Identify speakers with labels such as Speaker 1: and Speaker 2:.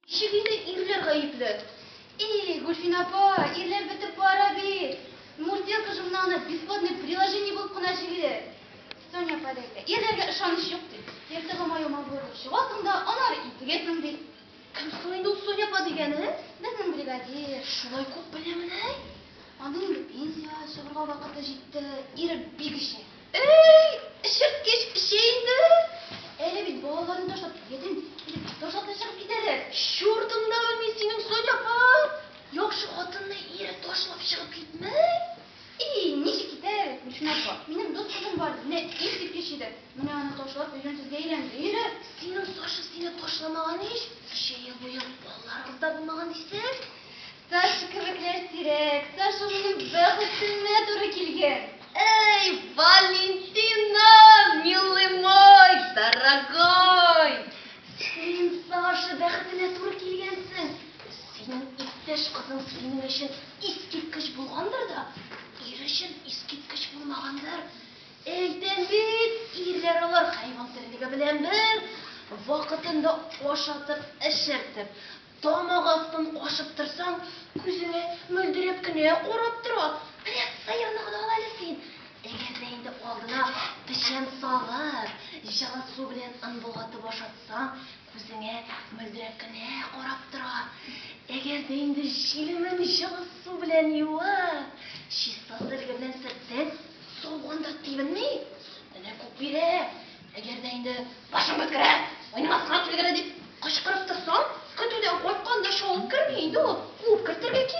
Speaker 1: Ничек инде ирләр гаепле? Ии, Гөлфин апа, ирләр бетеп бара бит. Мурзилка журналына бесплатный приложение булып кына җигелер. Соня апа да әйтә, ирләргә ышаныч юк ди. Ертыгы маюма буырылып чыгасың да, аннары интегәсең ди. Кем соң инде ул
Speaker 2: Соня апа дигәне? Безнең бригадир.
Speaker 1: Шулай күп беләмени?
Speaker 2: Аның инде
Speaker 1: пенсиягә чыгарга вакыты җитте. Ире бик эчә. Әй,
Speaker 2: эчерткеч эчә инде. Әле бит
Speaker 1: балаларны ташлап килгәдең, килеп ташлап та чыгып китә дә. Чур тыңдавы
Speaker 2: мин синең, Соня апа! Яхшы хатынны ире ташлап чыгып китмәй. И, ничек
Speaker 1: китәр әле, Гөлсинә апа. Минем дус кызым бар, менә искиткеч иде. Менә аны ташлап өйләнсезгә әйләнде, ире. Синең Саша
Speaker 2: сине ташламаган ич, өч әйе буе балаларыгыз да булмаган дисең. Саша
Speaker 1: кебекләр сирәк. Саша минем бәхетемә туры килгән. Эй,
Speaker 2: Валентина, милый мой, дорогой! Син Саша бәхетенә туры килгәнсең. Синең иптәш кызың синең өчен искиткеч булгандыр да, ир өчен искиткеч булмагандыр. Әйтәм бит, ирләр алар хайван терлеге белән бер, вакытында ашатып, эчертеп, Тамак астын кашып торсаң, күзеңә мөлдерәп кенә карап тора. Менә сыерны гына ал әле син. Әгәр дә инде алдына печән салып, җылы су белән ынбулатып ашатсаң, күзеңә мөлдерәп кенә карап тора. Әгәр дә инде җилемен җылы су белән юып, чиста сөлге белән сөртсәң, сауган да тибенми. Менә күк бире! Әгәр дә инде башың беткерә, уйнамаска килгәлә дип кычкырып торсаң, көтүдән кайтканда чалып керми инде ул, куып кертергә кирәк.